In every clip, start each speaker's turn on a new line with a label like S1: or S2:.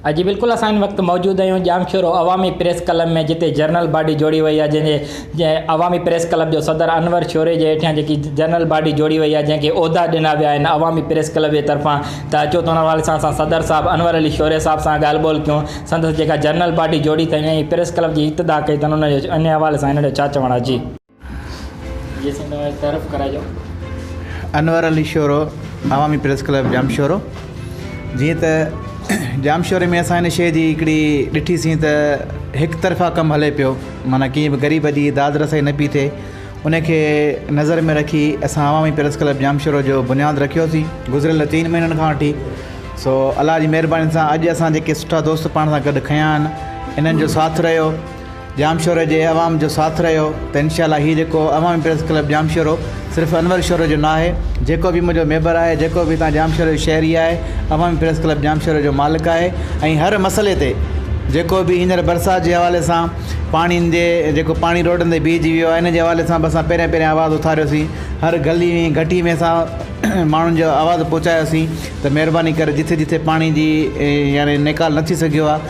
S1: اڄ بلڪل اسان ان وقت موجود آهيون ڄامشورو عوامي پريس ڪلب ۾ جتي جنرل باڊي جوڙي وئي آهي جنهن جي عوامي پريس ڪلب جو صدر انور شوري جي هيٺيان جيڪي جنرل باڊي جوڙي وئي آهي جنهن کي عهدا ڏنا ويا آهن عوامي پريس ڪلب جي طرفان ته اچو ته ان حوالي سان اسان صدر صاحب انور علي شوري صاحب سان ڳالهه ٻولهه ڪيون سندس جيڪا جنرل باڊي جوڙي اٿن ۽ پريس ڪلب جي ابتدا ڪئي اٿن ان حوالي سان هن جو ڇا چوڻ آهي جي انور
S2: علي شورو عوامي پريس ڪلب ڄامشورو جيئن ته ڄامشوري ۾ اسان هن شي جي هڪڙي ڏٺيسين ته هڪ طرفا ڪم هلي پيو معنيٰ ڪي به غريب جي داد رسائي نه پي ٿئي ان کي نظر ۾ رکي اسان عوامي پريس ڪلب ڄامشورو جو بنياد رکيوسين گذريل چئن مهينن کان وٺي سو الله جي مهرباني سان اڄ اسان جيڪي سٺا دوست پاڻ سان گڏ کنيا آهن انهن جو ساٿ رهيو ڄام شوري جي عوام جو ساٿ رهيو ته انشاء الله هي جيڪو عوامي پريس ڪلب ڄام شورو صرف انور شوري جو ناهي جيڪو به منهنجو ميبر آهي جيڪو به هتان ڄام شوري جو شهري آهي عوامي پريس ڪلب ڄام شوري جو مالڪ آهي ۽ هر مسئلي تي جيڪو به هينئر برسات جي حوالي سان پاڻين جي جيڪو پاڻي روڊن تي بيهجي ويو آهي ان جي حوالي سان به اسان پهريان پهريان آواز اٿاريوسين هر گلي ۾ گهٽي ۾ اسان ماڻهن جو آواز پهچايوسين ته مهرباني ڪري جتي جتي پاڻي جي يعني نيڪال نه ٿي سگهيو آهي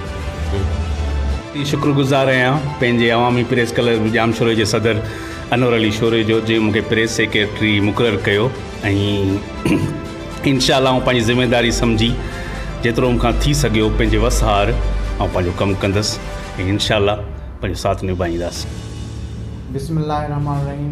S2: جي شڪر گذار آهيان
S3: پنهنجي عوامي پريس ڪلب ڄامشوري جي صدر انور علي شوري جو جنهن مون کي پريس سيڪريٽري مقرر ڪيو ۽ انشاء الله آئون پنهنجي ذميواري سمجهي جيترو مون کان ٿي سگهيو پنهنجي وس هار آئون پنهنجو ڪم ڪندس ۽ انشاء الله پنهنجو ساٿ نڀائينداسين. بسم الله الرحمٰن الرحيم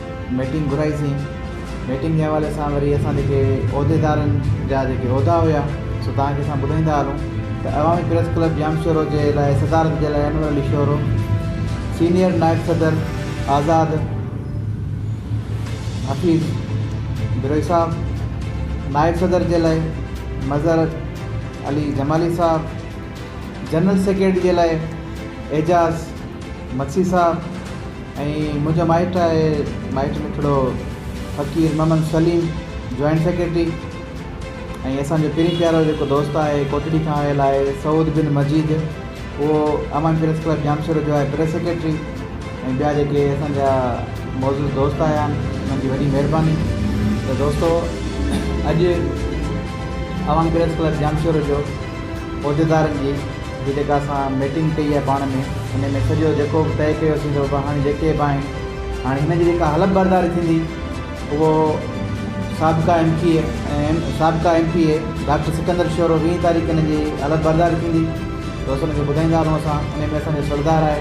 S2: ميٽنگ گهرائي سين ميٽنگ جي حوالي سان وري اسان جيڪي عهديدارن جا جيڪي عهدا هيا سو توهان کي اسان ٻڌائيندا هلون ته عوامي پريس ڪلب ڄام شورو جي لاء صدارت جي لاء انور علي شورو سينيئر نائب صدر آزاد حفيظ بروهي صاحب نائب صدر جي لاء مظهر علي جمالي صاحب جنرل سيڪريٽري جي لاء اعجاز مگسي صاحب ۽ منهنجا مائٽ آهي مائٽ ۾ ھڪڙو فقير محمد سليم جوائنٽ سيڪريٽري ۽ اسان جو پرين پيارو جيڪو دوست آهي ڪوٽڙي کان آيل آهي سعود بن مجيد اهو امان پريس ڪلب ڄامشورو جو آهي پريس سيڪريٽري ۽ ٻيا جيڪي اسان جا معزز دوست آيا آهن انهن جي وڏي مهرباني ته دوستو اڄ امان پريس ڪلب ڄامشورو جو عهديدارن جي جي جيڪا اسان ميٽنگ ڪئي آهي پاڻ ۾ ان ۾ سڄو جيڪو به طئي ڪيو سين سو هاڻي جيڪي به آهن هاڻي هن جي جيڪا حلف برداري ٿيندي اهو سابقا ايم پي اي ۽ سابقا M P A doctor Sikandar Shoro ويهه تاريخ هن جي حلف برداري ٿيندي سو اسان ان کي ٻڌائيندا هلون اسان ان ۾ اسان جو سردار آهي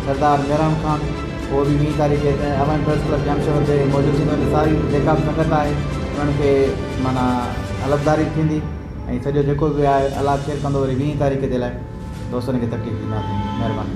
S2: سردار ميران خان اهو به ويهه تاريخ هتي اوهين پريس ڪلب جام شهر تي موجود ٿيندو ساري جيڪا به سنگت آهي انهن کي معنيٰ حلف داري ٿيندي ۽ سڄو جيڪو به آهي الله خير ڪندو وري ويهين تاريخ جي لاء دوستن کي تڪليف ڏينداسين مهرباني.